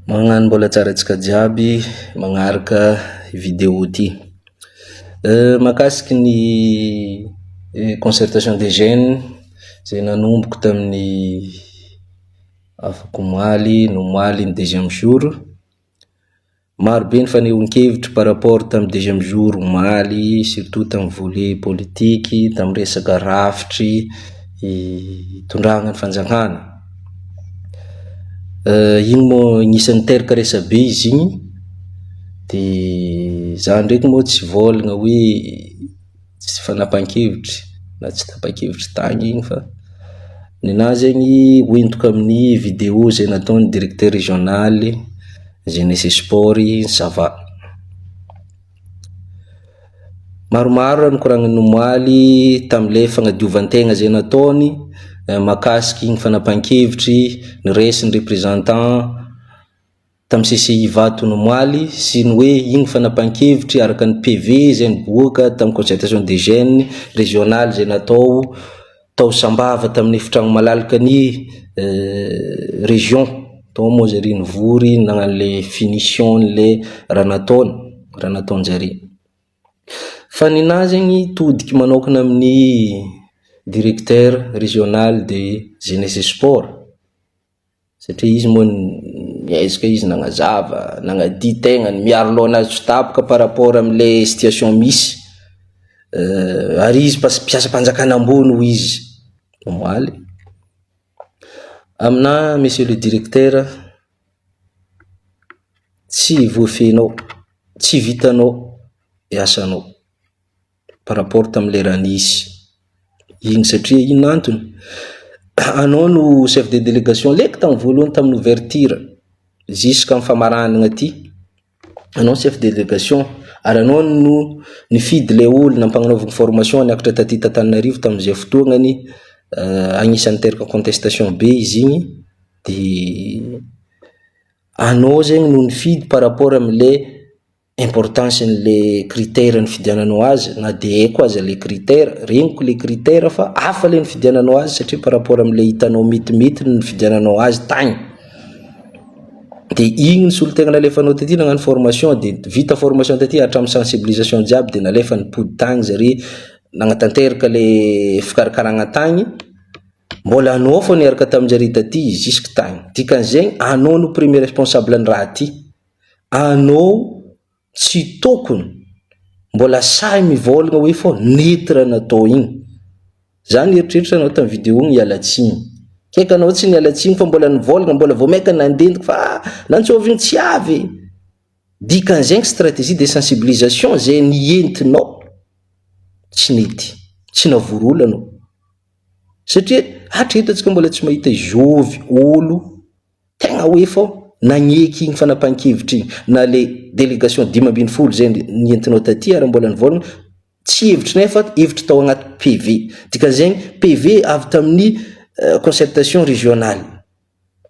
Magnano mbola tsara antsika jiaby magnaraka video ty. Mahakasiky ny concertation des jeunes izay nanomboky tamin'ny afaka omaly ny omaly ny deuxième jour. Maro be ny fanehoan-kevitry par rapport tamin'ny deuxième jour omaly surtout tamin'ny volet politiky, tamin'ny resaka rafitry itondrana ny fanjakana. Iny moa agnisan'ny niteraka resabe izy igny. Dia za ndraiky moa tsy vôlagna hoe tsy fanapahan-kevitry na tsy tapa-kevitry tagny igny fa ny anahy zegny hoentiko amin'ny video izay nataon'ny directeur régional jeunesse et sport i Sava. Maromaro raha nokoragniny omaly tamin'ilay fanadiovan-tegna izay nataony mahakasiky ny fanapahan-kevitry ny resy ny representant tamin'ny CCI Ivato omaly sy ny hoe iny fanapahan-kevitry araka ny PV izay niboaka tamin'ny concertation des jeunes régional izay natao Tao Sambava tamin'ny efitragno malalaka ny région. Tao moa zare nivory nagnano le finition le raha nataony, raha nataonjare. Fa ninahy zegny todiky manaokana amin'ny directeur régional de jeunesse et sport. Satria izy moa niezaka izy nagnazava, nagnadia tegnany, miaro loha anazy tsy ho tapoka par rapport amle situation misy. Ary izy mpiasam-panjakana ambony hoy izy omaly. Aminà Monsieur le Directeur, tsy voafehinao, tsy vitanao ny asanao. par rapport tam le raha nisy iny satria inona antony? anao no chef de delegation leiko tam voalohany tam ouverture jusqu'am famaranana aty anao chef de delegation ary anao no nifidy le olona ampagnanaovana formation niakatra taty Tantananarivo tam ze fotoagnany agnisany niteraka contestation be izy igny de anao zegny no nifidy par rapport am le importance ny le critère nifidiananao azy na de haiko aza le critère, regniko le critère fa hafa le nifidiananao azy satria par rapport amle hitanao mitimity ny nifidiananao azy tagny, de igny ny solotegna nalefanao taty nagnano formation de vita formation taty hatramin'ny sensibilisation jiaby de nalefa nipody tagny zare nagnatanteraka le fikarakaragna tagny, mbola anao fô niaraka taminjare taty jusque tagny, dikan'izegny anao no premier responsable ny raha ty. Anoo tsy tokon mbola sahy mivaolgna hoe fô nety raha natao igny. Za nieritreritra anao tam video ny hiala tsiny. Kay ka anao tsy niala tsiny fa mbola nivaolgna mbola vao maika nandendiko fa ah nantsôvigny tsy avy e. Dikan zegny strategie de sensibilisation zay nientinao tsy nety. Tsy navory olo anao. Satria hatreto atsika mbola tsy mahita izôvy olo. Tegna hoe fô nagneky igny fanapahan-kevitra igny na le délégation dimy ambin'ny folo izay nentinao taty ary mbola nivolagna tsy hevitrinay fa hevitry tao agnaty PV. Dikan'izegny PV avy tamin'ny concertation régionale.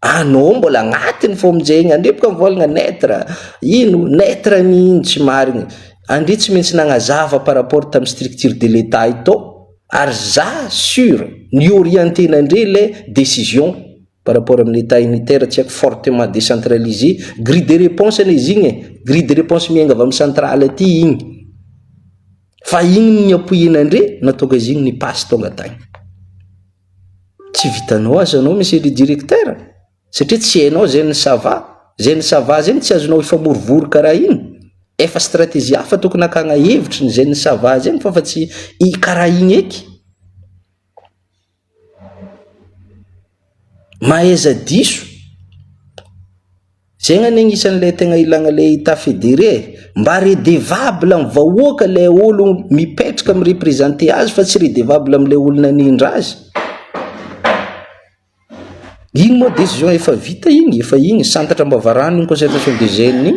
Anao mbola agnatiny fô amin'izay igny andre boka mivolagna neutre ino neutre ny ino tsy marigny. Andre tsy maintsy nagnazava par rapport tamin'ny structure de l'Etat itô ary za sur ny orienter-na andre le décision Par rapport amin'ny Etat unitaire tsy haiko fortement decentralisé, grille de réponse anie izy igny e, grille de réponse miainga avy amin'ny centrale aty igny. Fa igny no niapoian'andre nahatonga izy igny ni-passe tonga tagny. Tsy vitanao aza anao Monsieur le Directeur satria tsy hainao zay ny ça va, zay ny ça va zay no tsy azonao hifamorivory karaha igny. Efa stratégie hafa tokony hakagna hevitry ny zay ny ça va zay ny fa fa tsy i karaha igny eky. Mahaiza diso, zay ngah ny agnisan'ny le tegna ilagna le etat federé e, mba redevable amin'ny vahoaka le olo mipetraka mi-representer azy fa tsy redevable amle olo nanindra azy, iny moa décision efa vita iny, efa iny, santatra am-bavarano iny concertation des jeunes iny.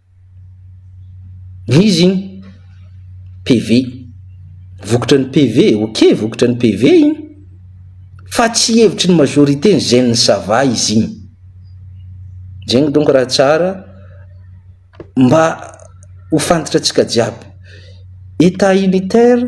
Izy iny PV. Vokotry ny PV. Ok, vokotry ny PV iny. Fa tsy hevitry ny majorité ny zen ny sava izy iny. Zegny donko raha tsara mba ho fantatra tsika jiaby. Etat unitaire.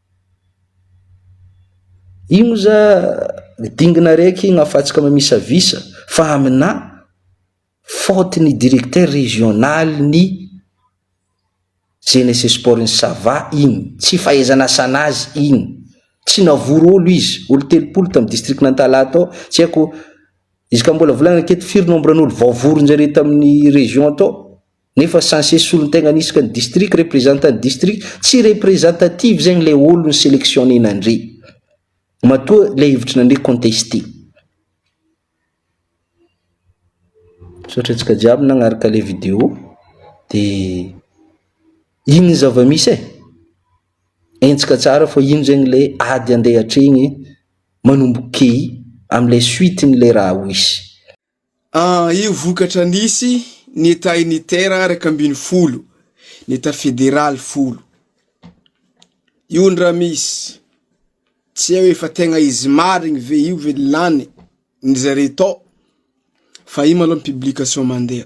Io moa za ny dingina raiky igny afatsika mamisavisa fa aminà faute ny directeur régional ny jeunesse et sport ny sava igny, tsy fahaizana asan'azy igny, tsy navory olo izy, olo telopolo tam district n'Antalaha tao, tsy haiko izy ka mbola volagna aketo firy nombre n'olo voavorinjare tamin'ny region tao. Nefa censé solontegna anisaka ny district representant ny district tsy representative zegny le olo ny selectionner nandre matoa le hevitry nandre contesté. Misaotra antsika jiaby nagnaraka le video de ino zava-misy e? Hentsika tsara fa ino zegny le ady andeha atregny manomboka key amle suite ny le raha ho hisy. Io vokatra nisy ny Etat unitaire iraika ambin'ny folo, ny Etat federaly folo. Io ndra misy, tsy eo efa tegna izy marigny ve io ve lany ny zare tao, fa io malô ny publication mandeha.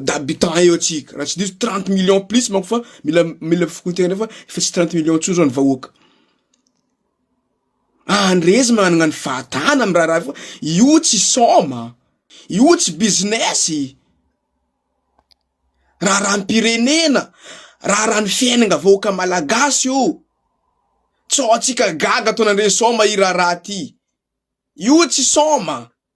d'habitants eo tsika raha tsy diso trente millions plus manko fa mila mila fokontena fa efa tsy trente millions tsony zao ny vahoaka andresy managna ny fahatana am raharaha io fa io tsy soma io tsy business raharaham-pirenena raharaha ny fiainanga vahoaka malagasy io tsy hahatsika gaga ataonandre soma i raharaha ty io tsy soma.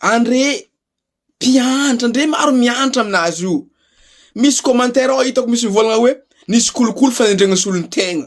Andre mpiantra ndre maro miantra amin'azy io misy commentaire ao hitako misy mivolagna hoe nisy kolikoly fanendregna solon-tegna.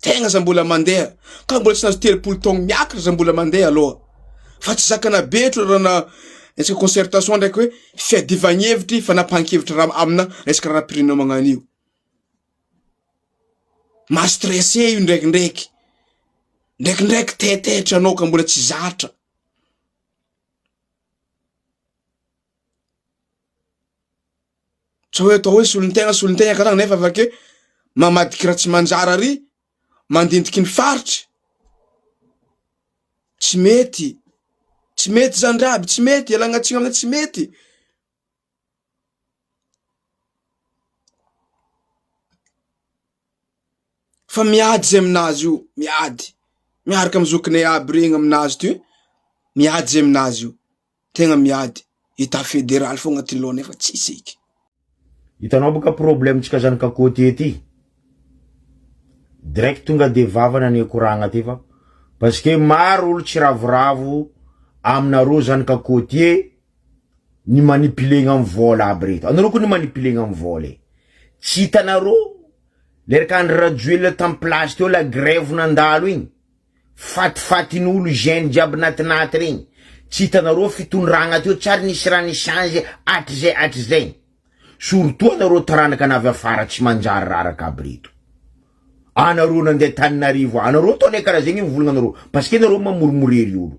Tegna za mbola mandeha ka mbola tsy nahazo telopolo taogno miakatra za mbola mandeha aloha fa tsy zakana be otry raha na resaka concertation ndraiky hoe fiadivagn'hevitry fanapahan-kevitry raha amina resaka raharaham-pirenena magnano io maha stressé io ndraikindraiky ndraikindraiky taitaitra anao ka mbola tsy zatra. Tsy hoe atao hoe solon-tegna solon-tegna karana nefa avake mamadika raha tsy manjary ary mandindiky ny faritry. Tsy mety, tsy mety zany raha aby, tsy mety, ialagna tsiny aminay tsy mety. Fa miady zay aminazy io, miady miaraka amy zokinay aby regny aminazy ty, miady zay aminazy io. Tegna miady état fédéral fogna ty lô nefa tsisy eky. Hitanao boka problème ntsika zanaka côtier ty direct tonga de vava nane koragna ty fa parce que maro olo tsy ravoravo aminareo zanaka côtier ny manipilegna am vôla aby reto anareo ko ny manipilegna am vôla e tsy hitanareo le raka Andry Rajoelina tam place teo la grève nandalo igny Fatifatin'olo hygiène jiaby natinaty regny, tsy hitanareo fitondragna teo tsy ary nisy raha ni change hatrizay hatrizay, surtout anareo taranaka navy afara tsy manjary raraka aby reto, anareo nandeha taninarivo anareo atao le karaha zegny mivolagnanareo parce que nareo mamorimorery olo,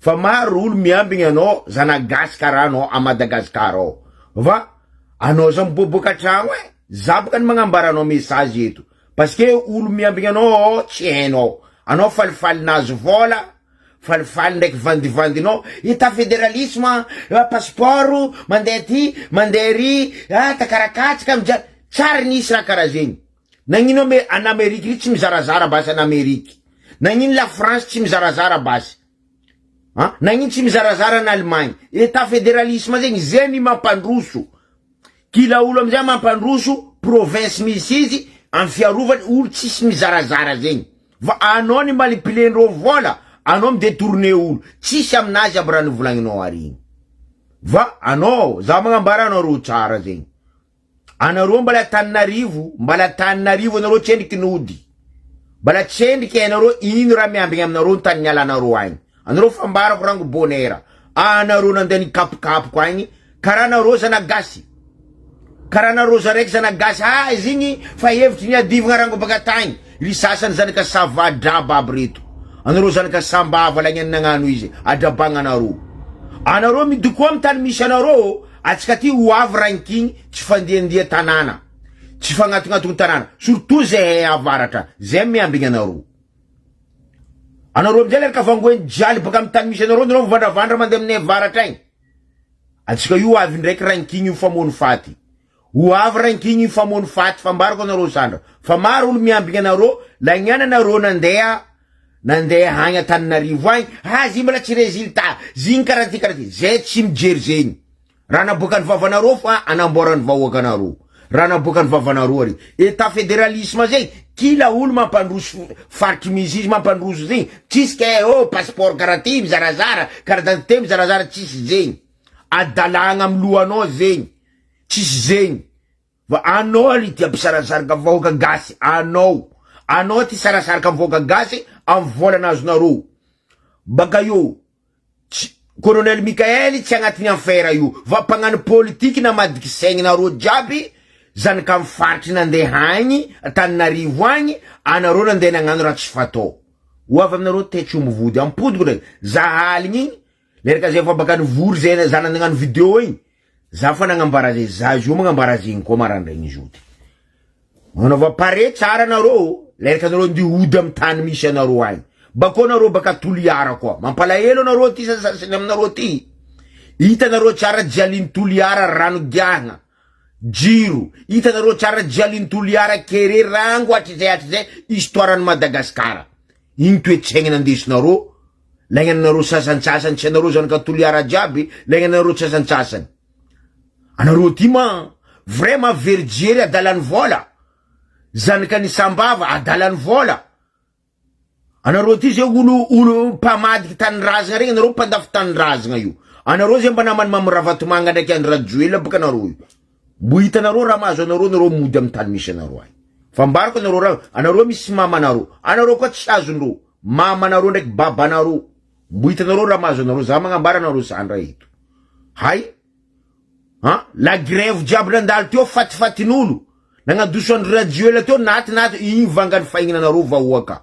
Fa maro olo miambigny anao zana gasy kara anao a Madagascar ao va anao za miboaboaka tragno e za boka ny magnambara anao message eto parce que olo miambigny anao ao tsy hainao anao falifaly nahazo vola falifaly ndraiky vandivandinao hita federalisme a passeport mandeha aty mandeha ary a takara katsaka mijano tsary nisy raha kara zegny. Nagnino ame an Amerique ry tsy mizarazara basy an Amerique? Nagnino la France tsy mizarazara basy an? Nagnino tsy mizarazara an Allemagne? Etat federalisme zegny ze ny mampandroso kila olo amizay mampandroso province misy izy am fiarovany olo tsisy mizarazara zegny fa anao ny malipilendreo vola anao mi detourne olo tsisy aminazy aby ra nivolagninao ary igny fa anao za magnambara anareo tsara zegny Anareo mbala Antananarivo, mbala Antananarivo anareo tsendriky ny ody. Mbala tsendriky anareo ino raha miambigny aminareo ny tany nialanareo agny. Anareo fa ambarako rango bonera, anareo nandeha nikapokapoko agny karaha anareo zana gasy. Karaha anareo za raiky zana gasy azy igny fa hevitry ny adivagna rango baka tagny. Ry sasany zanaka sava draba aby reto. Anareo zanaka sambava lagnany nagnano izy, adrabagna anareo. Anareo midokoa am tany misy anareo ô. Atsika aty ho avy ranking tsy fandiandia tanàna, tsy fagnatognatogna tanàna, surtout zahay avaratra, zay miambigny anareo. Anareo amizay le reka vangoen'i djaly baka am tany misy anareo nareo mivandravandra mande aminay avaratra agny. Atsika io avy ndraiky ranking io famono faty. Ho avy ranking io famono faty fambarako anareo sandra fa maro olo miambigny anareo lagnana nareo nandeha Nandeha agny Antananarivo agny, ha zigny mbola tsy résultat, zigny karaha ty karaha ty, zay tsy mijery zegny, raha naboakan'ny vavanareo fa anamboaran'ny vahoakanareo, raha naboakan'ny vavanareo ary, état fédéralisme zay, kila olo mampandroso faritry misy izy mampandroso zegny, tsisy kay ô passeport karaha ty mizarazara, carte d'identité mizarazara, tsisy zegny, adalagna amy lohanao zegny, tsisy zegny. Fa anao alo ity mpisarasaraka vahoaka gasy anao anao ity sarasaraka am vahoaka gasy am volana azonareo baka eo tsy colonel Mickael tsy agnatiny affaire io fa mpagnano politique namadika saigninareo jiaby zanak am faritry nandeha agny Antananarivo agny anareo nandeha nagnano raha tsy fatao ho avy aminareo tetry omby vody am podiko ndraiky za aligny igny Merka zay efa baka nivory zay zana nagnano video igny za fa nagnambara zay za zao magnambara azy igny koa marandraigny zao ty magnanaova pare tsara nareo lerka nareo andeha hody amy tany misy anareo agny bakeo nareo baka toliara koa mampalahelo anareo ty sasasany aminareo ty hitanareo tsara jialin'i toliara rano giahagna jiro hitanareo tsara jialin'i toliara kere rango hatrizay hatrizay histoire an'i madagasikara igny toetsaigny nandesinareo Laingany anareo sasantsasany tsy anareo zany ka toliara jiaby laingany anareo sasantsasany anareo ty ma vraiment very jery adalany vola zanaka ny sambava adalany vola anareo ty zay olo olo mpamadiky tanindrazagna regny anareo mpandafy tanindrazagna io anareo zay mba namany mamy ravatomanga ndraiky andry rajoelina boka anareo io Mbo hitanareo raha mahazo anareo nareo mody am tany misy anareo any fa mbariko anareo raha anareo misy mamanareo anareo koa tsy azonreo mamanareo ndraiky babanareo mbo hitanareo raha mahazo anareo za magnambara anareo zany raha eto hay an la grève jiaby nandalo teo fatifatinolo nagnadoso andry rajoela teo naty naty iny vangany fahignanareo vahoaka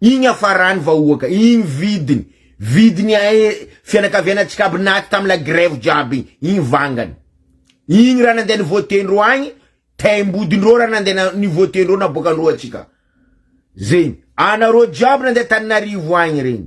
Iny hafarany vahoaka iny vidiny vidiny ae fianakavianantsika aby naty tam la grève jiaby iny iny vangany iny raha nandeha ni vote ndreo agny taim-body ndreo raha nandeha ni vote ndreo naboaka ndreo atsika zegny anareo jiaby nandeha taninarivo agny regny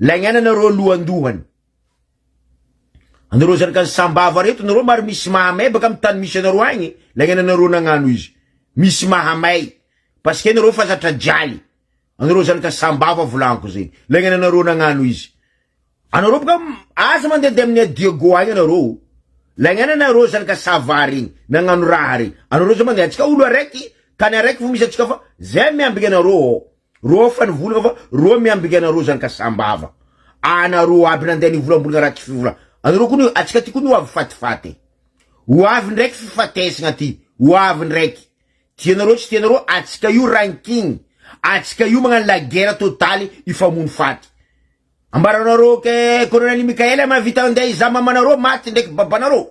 Laingaina nareo lohandohany anareo zanaka ny sambava reto nareo mary misy mahamay baka am tany misy anareo agny laingaina nareo nagnano izy misy mahamay parce que nareo fa zatra jaly anareo zanaka sambava volagno zegny laingaina nareo nagnano izy anareo baka aza mandeha de amin'ny adiego agny anareo laingaina nareo zanaka sava regny nagnano raha regny anareo za mandeha antsika olo araiky tany araiky vo misy antsika fa zay miambigna anareo ô Roa fa ny volana fa roa miambinga anareo zany ka sambava anareo aby nandeha ny volambolana raha tsy fivola anareo koa ny atsika ty koa ny ho avy fatifaty ho avy ndraiky fifatesagna ty ho avy ndraiky tianareo tsy tianareo atsika io ranking atsika io magnano la guerre totale hifamono faty ambaranareo ke colonel Mickael mahavita andeha hizaha mamanareo maty ndraiky babanareo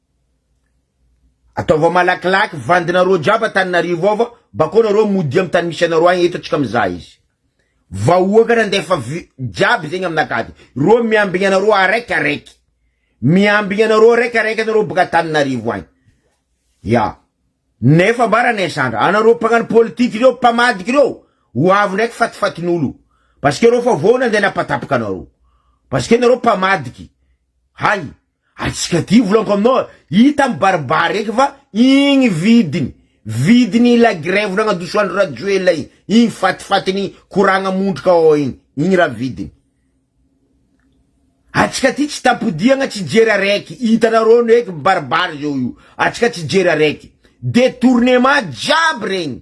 Ataovao malakilaky vandinareo jiaby Antananarivo ao fa bakao nareo mody am tany misy anareo agny eto atsika mizaha izy vahoaka nandefa vy jiaby zegny aminakaty reo miambigny anareo araiky araiky miambigny anareo araiky araiky anareo baka Antananarivo agny ya nefa mba ranainsandra anareo mpagnano politique reo mpamadika reo ho avy ndraiky fatifatinolo parce que reo fa vao nandeha napatapaka anareo parce que nareo mpamadiky hay Ary tsy katy volanko aminao a! Hita mibaribary eky fa igny vidiny, vidiny i la grève nagnadoso andry rajoelina igny, igny fatifatiny koragna mondroka ao igny, igny raha vidiny. Antsika ty tsy tampodiagna tsy jery araiky, hitanareo ny hoe mibaribary zao io, antsika tsy jery araiky, detournement jiaby regny,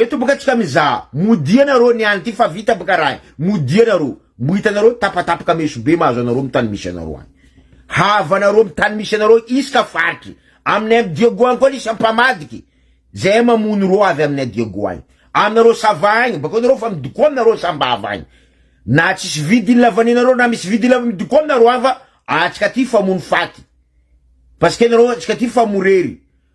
Eto boka tsika mizaha, modia nareo ny any ty fa vita boka raha e, modia nareo, mbo hitanareo tapatapaka meso be mahazo anareo am tany misy anareo any. Havanareo am tany misy anareo iska faritry, aminay am Diego any koa nisy ampamadika zay mamono reo avy aminay Diego any, aminareo sava agny, bakeo nareo fa midoko aminareo sambava agny, na tsisy vidiny lavanenareo na misy vidiny lavanenareo midoko aminareo ava atsika ty fa mono faty, parce que nareo atsika ty fa morery.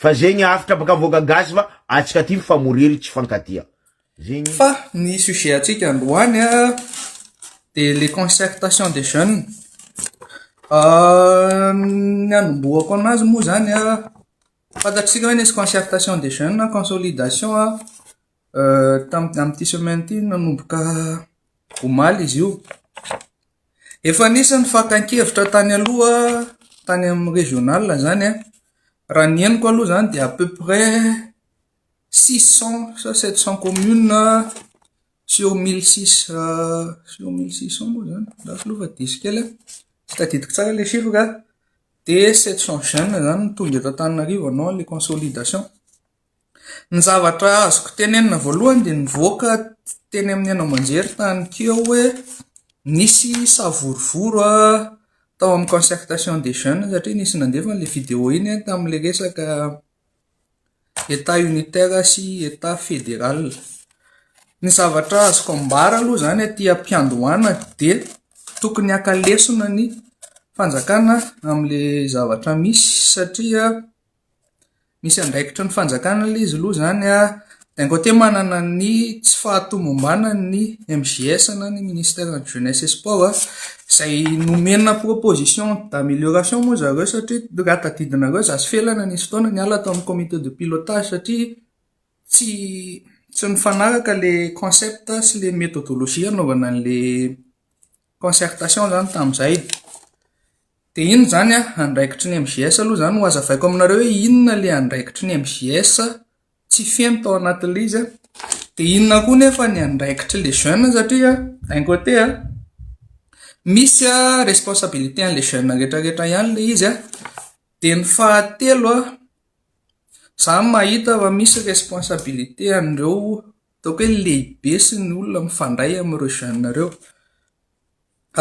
Fa zegny avotra baka avoaka gasy fa atsika aty mifamoriry tsy fankatia zegny. Fa ny sujet antsika androany dia le concertation des jeunes ny anombohako anazy moa zany fantatsika hoe nisy concertation des jeunes na consolidation tamin'ity semaine ity nanomboka omaly izy io. Efa anisan'ny fakan-kevitra tany aloha tany amin'ny régional izany an, raha ny henoko aloha izany dia à peu près six cent sa sept cent communes sur mille six sur mille six cent moa izany lafo loha fa diso kely an, tsy tadidiko tsara ilay chiffre an, dia sept cent jeunes izany no tonga eto Antananarivo en non les consolidations. Ny zavatra azoko tenenina voalohany dia nivoaka teny amin'ny haino aman-jery tany keo hoe nisy savorovoro tao amin'ny concertation des jeunes satria nisy nandefa an'ilay video iny tamin'ilay resaka Etat unitaire sy Etat fédéral. Ny zavatra azoko ambara aloha izany aty am-piandohana dia tokony haka lesona ny fanjakana amin'ilay zavatra misy satria Misy andraikitry ny fanjakana ilay izy aloha izany a, d'un côté manana ny tsy fahatomombanany ny MJS na ny ministère de la jeunesse et sport a, izay nomena proposition d'amélioration moa zareo satria raha tadidinareo za sy Felana nisy fotoana niala tao amin'ny comité de pilotage satria tsy tsy nifanaraka ilay concept sy ilay méthodologie hanaovana an'ilay concertation izany tamin'izay dia inona izany andraikitry ny MJS aloha izany no hazavaiko aminareo hoe inona ilay andraikitry ny MJS tsy feno tao anatin'ilay izy dia inona koa nefa ny andraikitry les jeunes satria d'un côté misy responsabilité an'ilay jeune rehetra rehetra ihany ilay izy dia ny fahatelo izaho mahita fa misy responsabilité an'ireo Ataoko hoe lehibe sy ny olona mifandray amin'ireo jeunes ireo.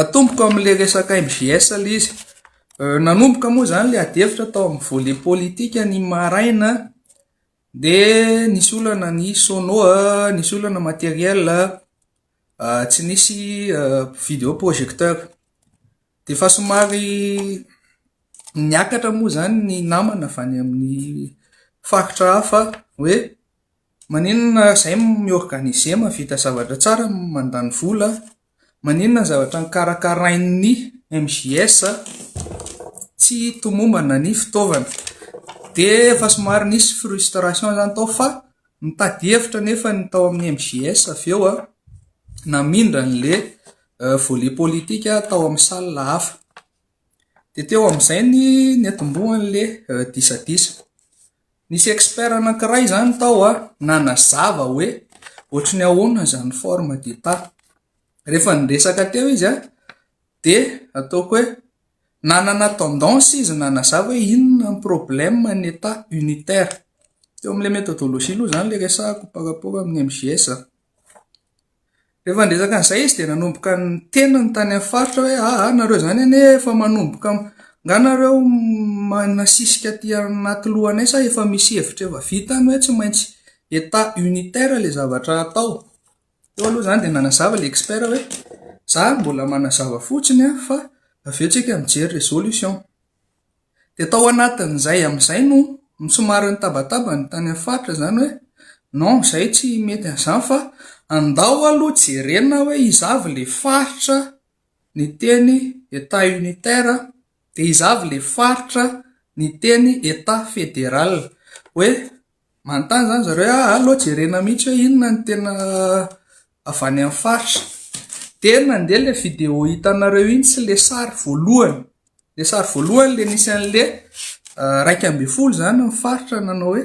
Atomboko amin'ilay resaka MJS ilay izy. Nanomboka moa izany ilay adihevitra tao amin'ny volet politika ny maraina dia nisy olana ny sono, nisy olana matériel, tsy nisy vidéo projecteur. Dia efa somary niakatra moa izany ny namana avy any amin'ny faritra hafa hoe. Maninona ary zay mi-organiser mahavita zavatra tsara mandany vola a! Maninona ny zavatra nokarakarain'ny MJS tsy tomombana ny fitaovana? Dia efa somary nisy frustration zany tao fa nitady hevitra anefa ny tao amin'ny MJS avy eo a, namindra an'le volet politique tao amin'ny salle hafa. Dia teo amin'izay ny niantombohan'le disadisa. Nisy expert anankiray izany tao a, nanazava hoe ohatry ny ahoana izany forme d'état. Rehefa niresaka teo izy a, dia ataoko hoe nanana tendance izy nanazava hoe inona ny problème ny état unitaire. Teo amin'ilay méthodologie aloha izany ilay resahako par rapport amin'ny MJS. Rehefa niresaka an'izay izy dia nanomboka niteny ny tany amin'ny faritra hoe aa nareo izany anie efa manomboka angaha nareo manasisika aty anaty lohanay sa efa misy hevitra efa vita any hoe tsy maintsy état unitaire ilay zavatra hatao? Teo aloha izany dia nanazava ilay expert hoe za mbola manazava fotsiny fa avy eo isika mijery resolution. Dia tao anatin'izay amin'izay no somary nitabataba ny tany amin'ny faritra izany hoe non izay tsy mety an'izany fa andao aloha jerena hoe iza avy ilay faritra niteny Etat unitaire dia iza avy ilay faritra niteny Etat fédéral hoe Manontany izany zareo hoe ah, aleo jerena mihitsy hoe inona no tena avy any amin'ny faritra. Dia nandeha ilay vidéo hitanareo iny sy ilay sary voalohany. Ilay sary voalohany ilay nisy an'ilay ah, iraika ambin'ny folo izany ny faritra nanao hoe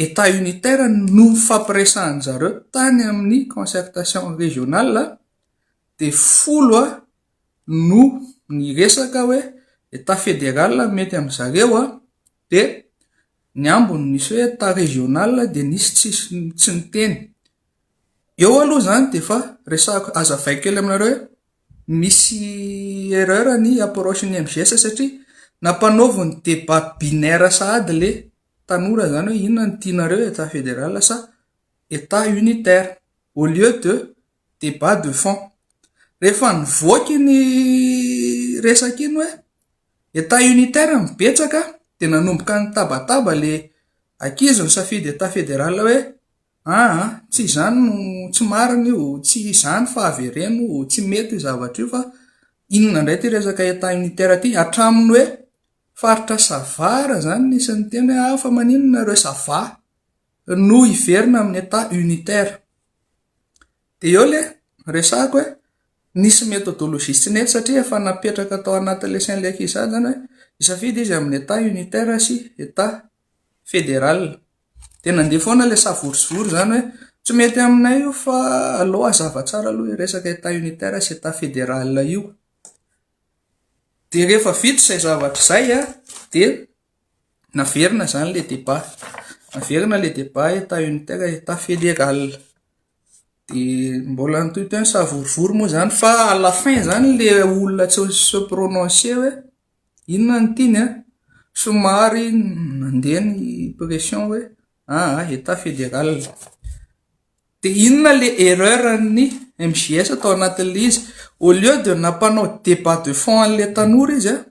état unitaire no nifampiresahan'ny zareo tany amin'ny concertation régionale dia folo ah, no niresaka hoe état fédéral no mety amin'ny zareo ah, Dia ny ambiny nisy hoe état régional dia nisy tsisy tsy niteny. Eo aloha izany dia efa resahako, azavaiko kely aminareo hoe misy erreur ny approche ny MGS satria nampanaovy ny débat binaire sahady ilay tanora izany hoe inona no tianareo état fédéral sa état unitaire au lieu de débat de fond. Rehefa nivoaka iny resaka iny hoe Etat unitaire no betsaka dia nanomboka nitabataba le ankizy nisafidy etat fédéral hoe aa tsy izany no tsy marina io tsy izany fa avereno tsy mety io zavatra io fa inona indray ity resaka etat unitaire ity hatramin'ny hoe faritra sava raha izany nisy niteny hoe fa maninona ireo sava no hiverina amin'ny etat unitaire. Dia eo ilay resahako hoe nisy methodologie tsy nety satria efa napetraka tao anatin'ilay sain'ilay ankizy sahady izany hoe hisafidy izy amin'ny Etat unitaire sy Etat fédéral. Dia nandeha foana ilay savory sy vory izany hoe tsy mety aminay io fa aleo hazava tsara aloha io resaka Etat unitaire sy Etat fédéral io. Dia rehefa vita izay zavatra izay dia Naverina izany ilay débat. Naverina ilay débat état unitaire état fédéral. Dia mbola nitohy teo ny savorovoro moa izany fa à la fin izany ilay olona tsy se prononcer hoe inona no tiany an, somary nandeha ny pression hoe aa état fédéral. Dia inona le erreur an'ny MJS tao anatin'ilay izy? Au lieu de nampanao débat de fond an'ilay tanora izy an!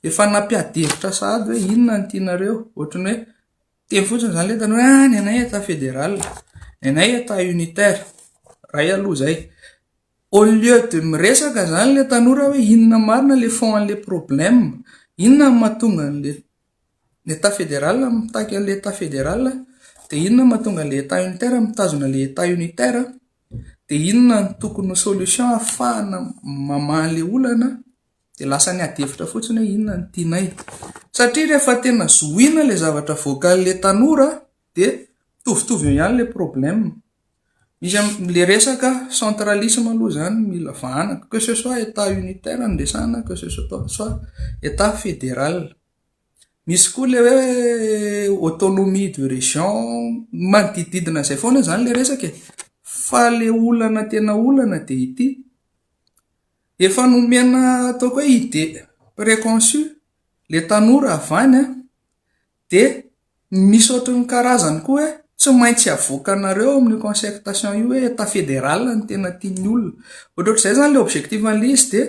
Efa nampiadi-hevitra sahady hoe inona no tianareo. Ohatran'ny hoe teny fotsiny izany ilay tanora hoe ah ny anay Etat fédéral, ny anay Etat unitaire. Iray aloha izay. Au lieu de miresaka izany ilay tanora hoe inona marina ilay fond an'ilay problème? Inona no mahatonga an'ilay. Ny Etat fédéral mitaky an'ilay Etat fédéral, dia inona no mahatonga an'ilay Etat unitaire mitazona ilay Etat unitaire, dia inona no tokony ho solution ahafahana mamaha an'ilay olana, dia lasa ny adihevitra fotsiny hoe inona no tianay. Satria rehefa tena zohiana ilay zavatra voakalin'ilay tanora, dia mitovitovy eo ihany ilay problème misy le resaka centralisme aloha zany mila vahana que ce soit état unitaire no resahana que ce soit état fédéral misy koa le hoe autonomie de région manodidididina izay foana zany le resaka e fa le olana tena olana dia ity efa nomena ataoko hoe idée préconçue le tanora avy any an Dia misy ohatry ny karazany koa hoe tsy maintsy avoakanareo ao amin'io concertation io hoe Etat fédéral no tena tian'ny olona. Ohatrohatr'izay izany ilay objectif an'ilay izy dia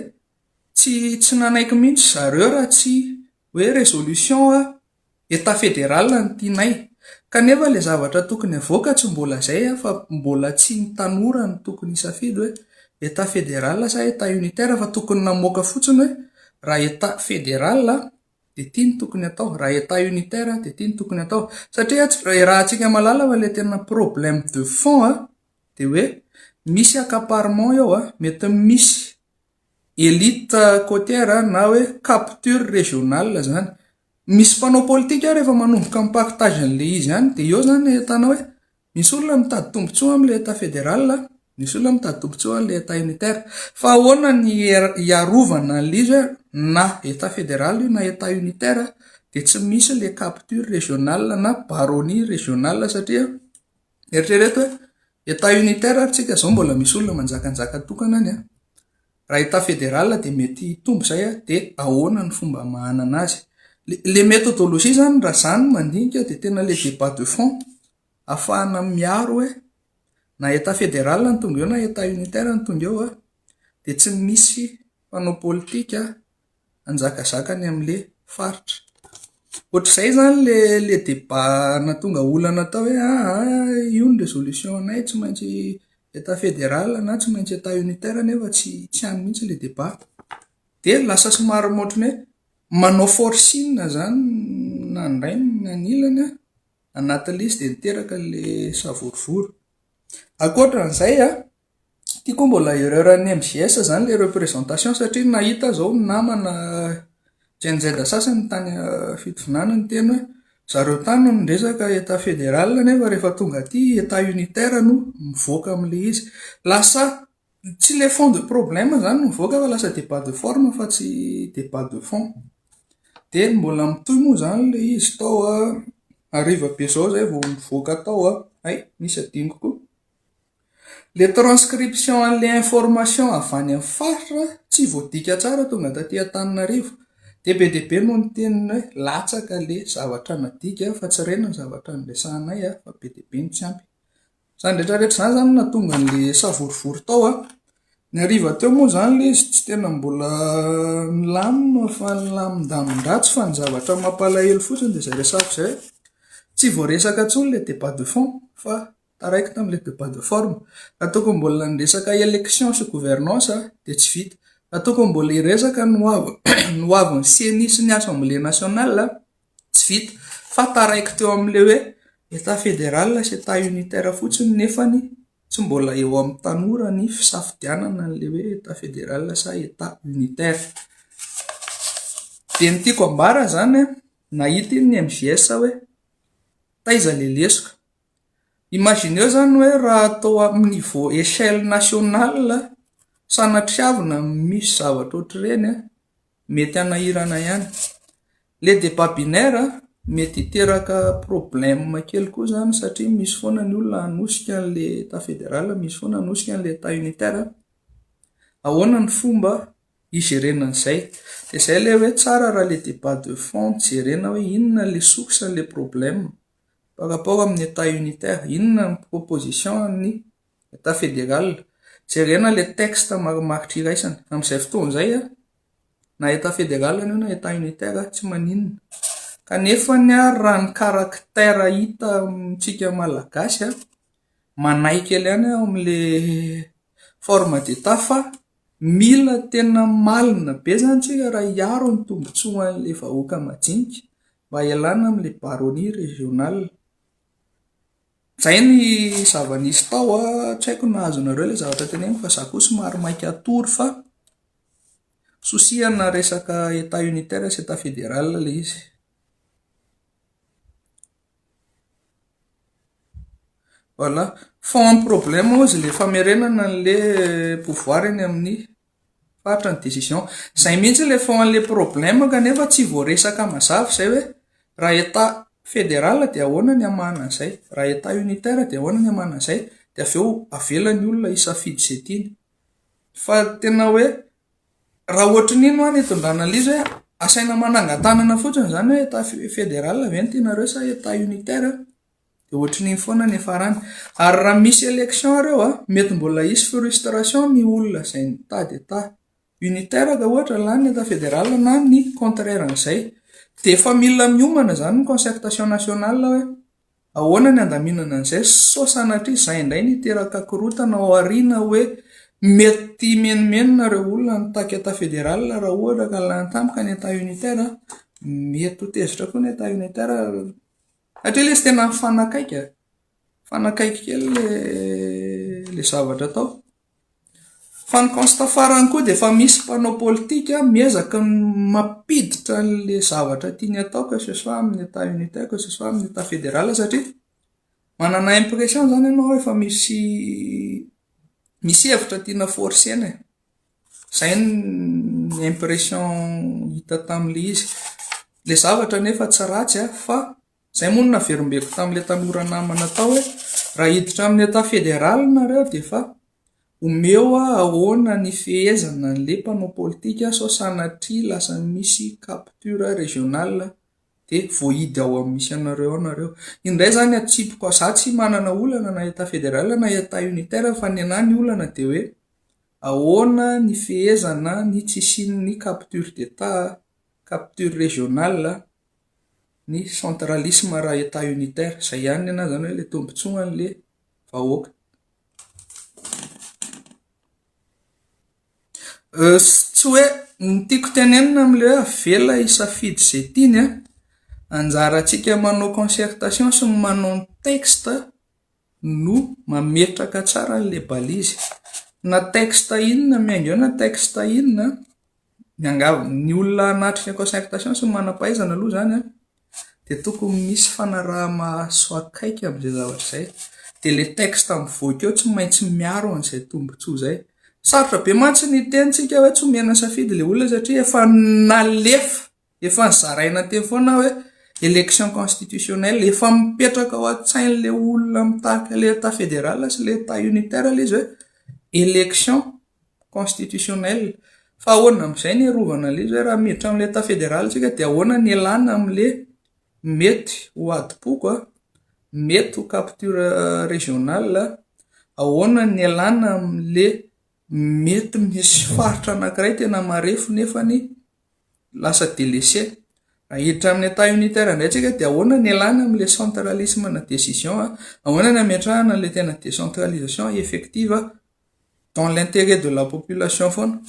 tsy tsy nanaiky mihitsy ry zareo raha tsy hoe résolution Etat fédéral no tianay. Kanefa ilay zavatra tokony havoaka tsy mbola izay fa mbola tsy ny tanora no tokony hisafidy hoe Etat fédéral sa Etat unitaire fa tokony namoaka fotsiny hoe raha Etat fédéral Dia ity no tokony atao. Raha Etat unitaire dia ity no tokony atao. Satria tsy iarahantsika malala fa ilay tena problème de fond dia hoe misy accaparement eo, mety misy elite cotière na hoe capture régionale izany. Misy mpanao politika rehefa manomboka mi-partage an'ilay izy any dia eo izany ahitana hoe Misy olona mitady tombontsoa amin'ny Leta Federal, misy olona mitady tombontsoa amin'ny Leta Unitaire. Fa ahoana ny hiarovana an'ilay izy hoe na Etat Federal io na Etat Unitaire dia tsy misy ilay capture régionale na baronnie régionale satria eritrereto hoe Etat Unitaire ary tsika izao mbola misy olona manjakanjaka tokana any an! Raha état fédéral dia mety hitombo izay a, dia ahoana ny fomba hamahanana azy. Ilay méthodologie izany raha izaho no mandinika dia tena ilay débat de fond hahafahana miaro hoe na état fédéral no tonga eo na état unitaire no tonga eo dia tsy misy mpanao politika hanjakazaka ny amin'ilay faritra. Ohatr'izay izany ilay ilay débat nahatonga olana tao hoe aa io ny résolution-nay tsy maintsy état fédéral na tsy maintsy état unitaire nefa tsy tsy any mihitsy ilay débat. Dia lasa somary ohatran'ny hoe manao forcing izany na ny ray na ny ilany an, anatin'ilay izy dia niteraka ilay savorovoro. Ankoatra an'izay an, Ity koa mbola erreur an'ny MJS izany ilay représentation satria nahita aho izao ny namana Gen Z sasany tany Fitovinany niteny hoe zareo tany no niresaka Etat fédéral nefa rehefa tonga aty Etat unitaire no mivoaka amin'ilay izy. Lasa tsy ilay fond de problème izany no mivoaka fa lasa débat de forme fa tsy débat de fond. Dia mbola mitohy moa izany ilay izy tao an, hariva be izao izay vao mivoaka tao an, hay, nisy adinoko koa. Ilay transcription an'ilay information avy any amin'ny faritra tsy voadika tsara tonga taty Antananarivo. Dia be dia be no niteny hoe latsaka ilay zavatra nadika fa tsy reny ny zavatra niresahanay fa be dia be no tsy ampy. Izany rehetra rehetra izany izany no nahatonga an'ilay savorovoro tao an. Ny hariva teo moa izany ilay izy tsy tena mbola nilamina fa nilamin-damin-dratsy fa ny zavatra mampalahelo fotsiny dia izay resahako izay hoe tsy voaresaka intsony ilay débat de fond fa Taraiky tamin'ilay debat de forme. Nataoko ny mbola ny resaka élection sy gouvernance dia tsy vita. Nataoko ny mbola hiresaka ny ny hoavin'ny ceni sy ny assemblée nationale, tsy vita. Fa taraiky teo amin'ilay hoe Etat fédéral sy Etat unitaire fotsiny nefany tsy mbola eo amin'ny tanora ny fisafidianana an'ilay hoe Etat fédéral sa Etat unitaire. Dia ny tiako ambara izany an, nahita iny ny MJS hoe taiza ilay lesoka. Imagineo izany hoe raha atao amin'ny niveau echelle nationale sanatriavina no misy zavatra ohatr'ireny, mety hanahirana ihany. Le débat binaire mety hiteraka problème kely koa izany satria misy foana ny olona hanosika an'ilay état fédéral, misy foana hanosika an'ilay état unitaire. Ahoana ny fomba hijerena an'izay? Dia izay ilay hoe tsara raha ilay débat de fond jerena hoe inona ilay source an'ilay problème. Par rapport amin'ny Etat unitaire, inona ny proposition an'ny Etat fédéral? Jerena ilay texte marimaritra iraisana. Amin'izay fotoana izay, na Etat fédéral io na Etat unitaire, tsy maninona. Kanefa ary raha ny caractère hita amintsika Malagasy, manahy kely ihany aho amin'ilay forme d'Etat fa mila tena malina be izany isika raha hiaro ny tombontsoan'ilay vahoaka majinika Mba ialana amin'ilay baronnie régionale. Izay ny zava-nisy tao an, tsy haiko na azonareo ilay zavatra teneniko fa za koa somary maika hatory fa souci ana resaka etat unitaire sy etat fédéral ilay izy. Voilà, fond problème hozy ilay famerenana an'ilay pouvoir eny amin'ny. Fatra ny décision. Zay mihitsy le fond anle problème kanefa tsy voaresaka mazava zay hoe raha état fédéral dia ahoana ny hamahana an'izay, raha état unitaire dia ahoana ny hamahana an'izay dia avy eo avela ny olona hisafidy izay tiany. Fa tena hoe raha ohatran'iny hoa ny hitondrana an'le izy hoe asaina manangan-tanana fotsiny izany hoe état fédéral ve no tianareo sa état unitaire. Dia ohatrin'iny foana ny farany. Ary raha misy élection ireo a, mety mbola hisy frustration ny olona izay nitady ata unitaire ka ohatra lany ny ata fédéral na ny contraire an'izay. Dia efa mila miomana izany ny concertation nationale hoe ahoana ny handaminana an'izay sao sanatria izay indray no hiteraka korontana ao aoriana hoe mety himenomenona ireo olona nitaky ata fédéral raha ohatra ka lany tampoka ny ata unitaire. Mety ho tezitra koa ny ata unitaire. Hatria lesy tena nifanakaiky e! Nifanakaiky kely ilay zavatra tao. Fa ny constat farany koa dia efa misy mpanao politika miezaka mampiditra an'ilay zavatra tiany atao que ce soit amin'ny etat unitaire, que ce soit amin'ny etat fédéral satria manana impression izany ianao efa misy, misy hevitra tiana forcer-na e. Izay ny impression hita tamin'ilay izy. Ilay zavatra anefa tsy ratsy an, fa izay moa no naverimbeko tamin'ilay tanora namana tao hoe raha hiditra amin'ny état fédéral nareo dia efa omeo hoe ahoana ny fehezana an'ilay mpanao politika sao sanatria lasa misy capture régional dia voahidy ao amin'ny misy anareo ao nareo. Iny indray izany atsipiko, izaho tsy manana olana na état fédéral na état unitaire fa ny anah ny olana dia hoe Ahoana ny fehezana ny tsy hisian'ny capture d'Etat, capture régionale, ny centralisme raha Etat unitaire? Izay ihany nenahy izany hoe ilay tombontsoan'ilay vahoaka. Tsy hoe ny tiako tenenina amin'ilay hoe avela hisafidy izay tiany an, anjarantsika manao concertation sy manao ny texte no mametraka tsara an'ilay balise na texte inona miainga eo na texte inona miangavy ny olona hanatrika concertation sy ny manam-pahaizana aloha izany an dia tokony misy fanaraha-maso akaiky amin'izay zavatra izay dia ilay texte mivoaka eo tsy maintsy miaro an'izay tombontsoa izay, sarotra be mantsy ny hiteny tsika hoe tsy omena safidy ilay olona satria efa nalefa Efa zaraina teo foana hoe élection constitutionnelle. Efa mipetraka ao an-tsain'ilay olona mitarika ilay Etat fédéral sy ilay Etat unitaire ilay izy hoe élection constitutionnelle. Fa ahoana amin'izay ny hiarovana an'ilay izy hoe raha miditra amin'ilay Etat fédéral isika dia ahoana ny hialana amin'ilay mety ho adim-poko a, mety ho capture régionale a, ahoana ny hialana amin'ilay mety misy faritra anankiray tena marefo nefany lasa delese. Ahiditra amin'ny Etat unitaire indray tsika dia ahoana ny ialana amin'ilay centralisme na decision, ahoana ny ametrahana an'ilay tena décentralisation effective dans l'intérêt de la population foana.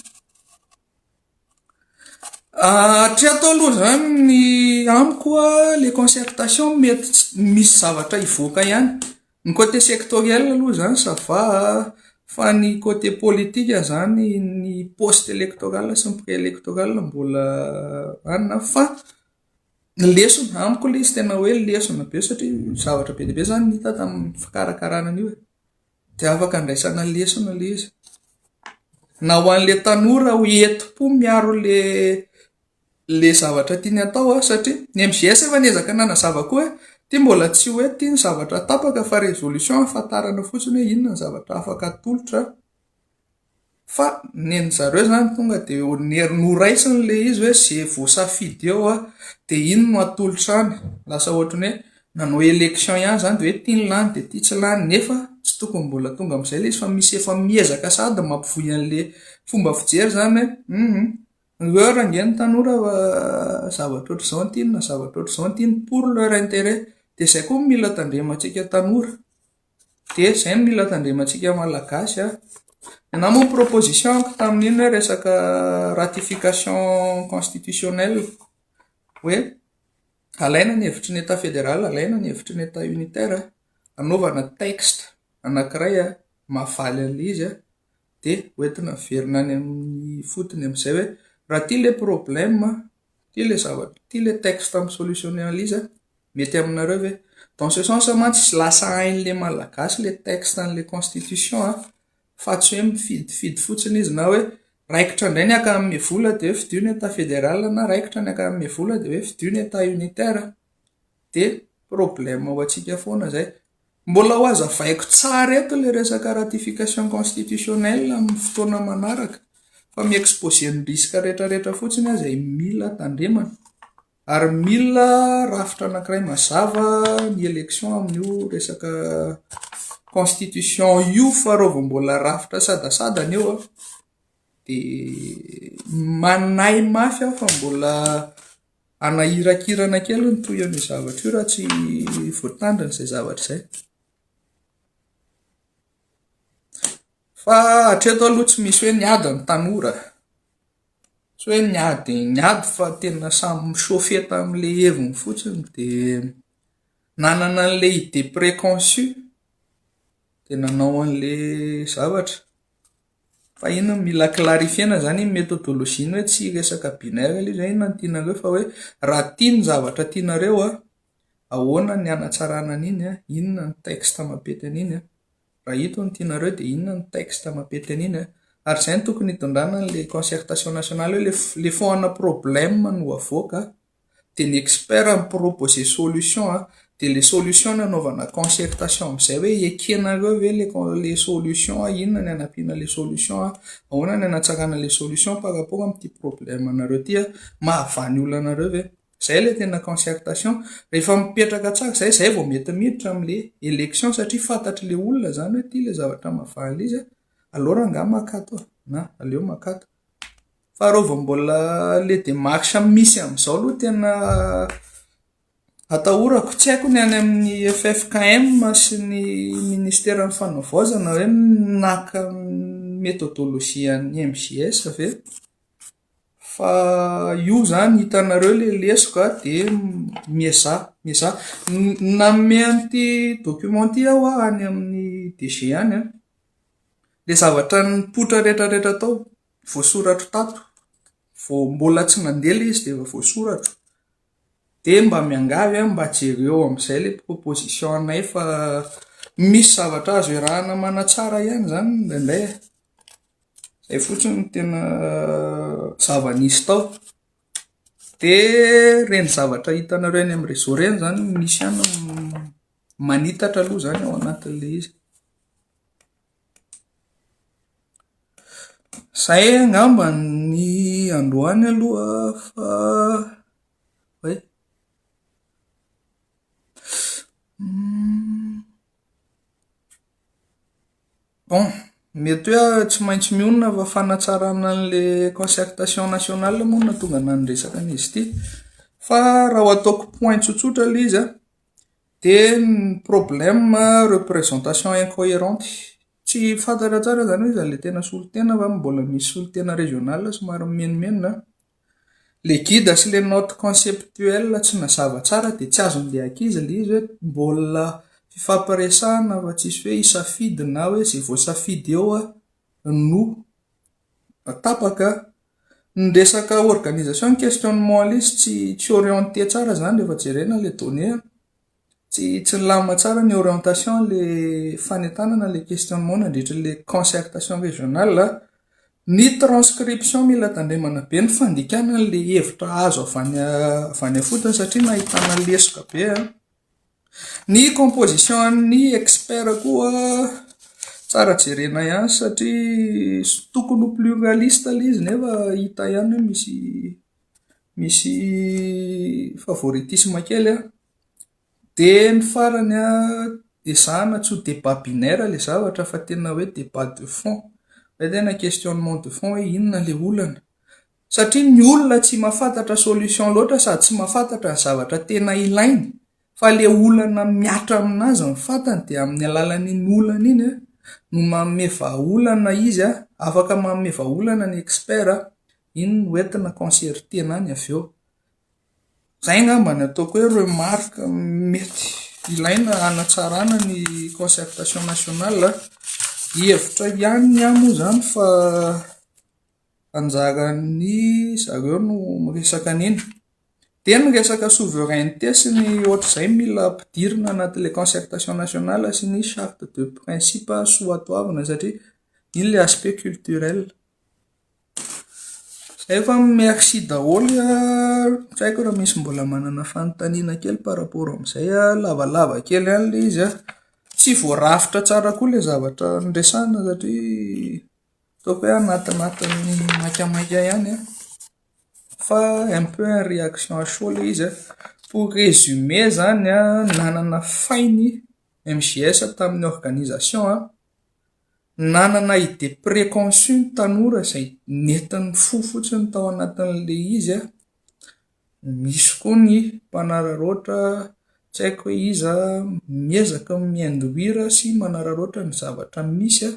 Hatreto aloha izany ny amiko ilay concertation mety tsy misy zavatra hivoaka ihany. Ny côté sectoriel aloha izany ça va a! fa ny côté politique izany ny poste electoral sy ny prix electoral mbola any na fa ny lesona, amiko ilay izy tena hoe lesona be satria zavatra be dia be izany no hita tamin'ny fikarakarana an'io e, dia afaka andraisana lesona ilay izy na ho an'ilay tanora ho entim-po miaro ilay le zavatra tiany hatao a, satria ny MJS efa niezaka nanazava koa hoe ity mbola tsy hoe ity ny zavatra tapaka fa résolution ahafantarana fotsiny hoe inona ny zavatra afaka atolotra fa nen'ny zareo zany tonga de noraisiny le izy hoe ze voasafidy eo a de iny no atolotra any, lasa ohatran'ny hoe nanao élection ihany zany de hoe ity ny lany de ity tsy lany nefa tsy tokony mbola tonga am'zay le izy fa misy efa miezaka sady mampivoy an'le fomba fijery zany hoe humm. Ry heure ange ny tanora zavatra ohatr'izao no tiany na zavatra ohatr'izao no tiany pour leur intérêt. Dia izay koa no mila tandremantsika tanora. Dia izay no mila tandremantsika Malagasy an. Ianao moa proposition-ko tamin'iny hoe resaka ratification constitutionnelle hoe alaina ny hevitry ny état fédéral, alaina ny hevitry ny état unitaire, anaovana texte anankiray mahavaly an'ilay izy an. dia hoentina averina any amin'ny fotony amin'izay hoe raha ity ilay problème, ity ilay zavatra, ity ilay texte amin'ny solution analyse mety aminareo ve? Dans ce sens mantsy tsy lasa hain'ilay Malagasy ilay texte an'ilay constitution an, fa tsy hoe mifidifidy fotsiny izy na hoe raikitra indray ny ankamabe vola dia hoe fidio ny Etat fédéral na raikitra ny ankamabe vola dia hoe fidio ny Etat unitaire dia problème ho antsika foana izay. Mbola hohazavaiko tsara eto ilay resaka ratification constitutionnelle amin'ny fotoana manaraka fa mi-exposer ny risques rehetrarehetra fotsiny aho izay mila tandremana ary mila rafitra anankiray mazava ny élection amin'io resaka constitution io fa raha vao mbola rafitra sadasadana eo dia manahy mafy aho fa mbola hanahirakirana kely ny tohiny io zavatra io raha tsy voatandrina izay zavatra izay. Fa hatreto aloha tsy misy hoe niady ny tanora, tsy hoe niady niady fa tena samy mi-chauffer tamin'ilay heviny fotsiny dia nanana an'ilay idée préconçue dia nanao an'ilay zavatra. Fa iny mila clarifier-na izany iny methodologie-ny hoe tsy resaka binaire ilay izy. Fa inona no tianareo fa hoe raha tia ny zavatra tianareo, ahoana ny hanatsarana an'iny, inona ny texte mampety an'iny, raha ito no tianareo dia inona ny texte mampety an'iny. Ary izay no tokony hitondrana an'ilay concertation nationale hoe ilay fo-, ilay foana problème no avoaka. dia ny expert mi-proposer solution an, dia ilay solution nanaovana concertation amin'izay hoe ekenareo ve ilay solution, inona ny hanampiana ilay solution, ahoana ny hanatsarana ilay solution par rapport amin'ity problème anareo ity, mahavaha ny olanareo ve, izay ilay tena concertation, rehefa mipetraka tsara izay, izay vao mety miditra amin'ilay élection satria fantatr'ilay olona izany hoe ity ilay zavatra mahavaha an'ilay izy an, alors angaha maka ato e, na aleo maka ato. Fa raha vao mbola le demarche misy amin'izao aloha tena atahorako. Tsy haiko ny any amin'ny ffkm sy ny minisiteran'ny fanavaozana hoe naka ny methodologie an'ny MJS ve? Fa io izany hitanareo ilay lesoka dia miezaha, miezaha. Nanome an'ity document ity aho any amin'ny DG any an, dia zavatra nipoitra rehetrarehetra tao. voasoratro tato vao mbola tsy nandeha ilay izy dia efa voasoratro dia mba miangavy aho mba jereo amin'izay ilay proposition anay fa misy zavatra azo iarahana manatsara ihany izany indraindray e, izay fotsiny no tena zava-nisy tao dia ireny zavatra hitanareo eny amin'ny réseau ireny izany no misy ihany no manitatra aloha izany ao anatin'ilay izy. Izay angamba ny androany aloha fa hay. Bon, mety hoe aho tsy maintsy mionona fa fanatsarana an'ilay concertation nationale moa no nahatonga anà niresaka an'izy ity fa raha ho ataoko point tsotsotra ilay izy an. Dia ny problème représentation incohérente. Tsy fantatra tsara izany hoe iza ilay tena solontena fa mbola misy solontena régional somary mimenomenona an. Ilay guide sy ilay note conceptuelle tsy nazava tsara dia tsy azon'ilay ankizy ilay izy hoe mbola fifampiresahana fa tsisy hoe hisafidy na hoe izay voasafidy eo no tapaka. Ny resaka organisation questionnement lisy tsy tsy orienté tsara izany rehefa jerena ilay donnée an, tsy tsy nilamina tsara ny orientation ilay fanentanana ilay questionnement nandritra ilay concertation régionale an, ny transcription mila tandremana be ny fandikana an'ilay hevitra azo avy any avy any ifotony satria nahitana lesoka be an. Ny composition an'ny expert koa tsara jerena ihany satria tokony ho pluraliste ilay izy nefa hita ihany hoe misy misy favoritisme kely an. Dia ny farany an, ezahina tsy ho débat binaire ilay zavatra fa tena hoe débat de fond, izay tena questionnement de fond hoe inona ilay olana? satria ny olona tsy mafantatra solution loatra sady tsy mafantatra ny zavatra tena ilainy fa le olana miatra aminazy ny fantany dia amin'ny alalan'iny olana iny a no manome vahaolana izy a afaka manome vahaolana ny expert a iny no entina concertena any avy eo zay angamba ny ataoko hoe remarque mety ilaina hanatsarana ny concertation nationale a hevitra ihany ny ahy moa zany fa anjaran'ny zareo no miresaka an'iny. Dia ny resaka souveraineté sy ny ohatr'izay mila ampidirina anatin'ilay concertation nationale sy ny charte de principe soatoavina satria iny ilay aspect culturel. Izay fa merci daholo an, tsy haiko raha misy mbola manana fanontaniana kely par rapport amin'izay an, lavalava kely ihany ilay izy an, tsy voarafitra tsara koa ilay zavatra noresahina satria. Ataoko hoe anatinatin'ny maikamaika ihany an, fa un peu en réaction à chaud ilay izy an. Pour résumer izany an, nanana fay ny MJS tamin'ny organisation an, nanana idée préconçue ny tanora izay nentiny fo fotsiny tao anatin'ilay izy an, misy koa ny mpanararaotra tsy haiko hoe iza miezaka mi-induire sy manararaotra ny zavatra misy an.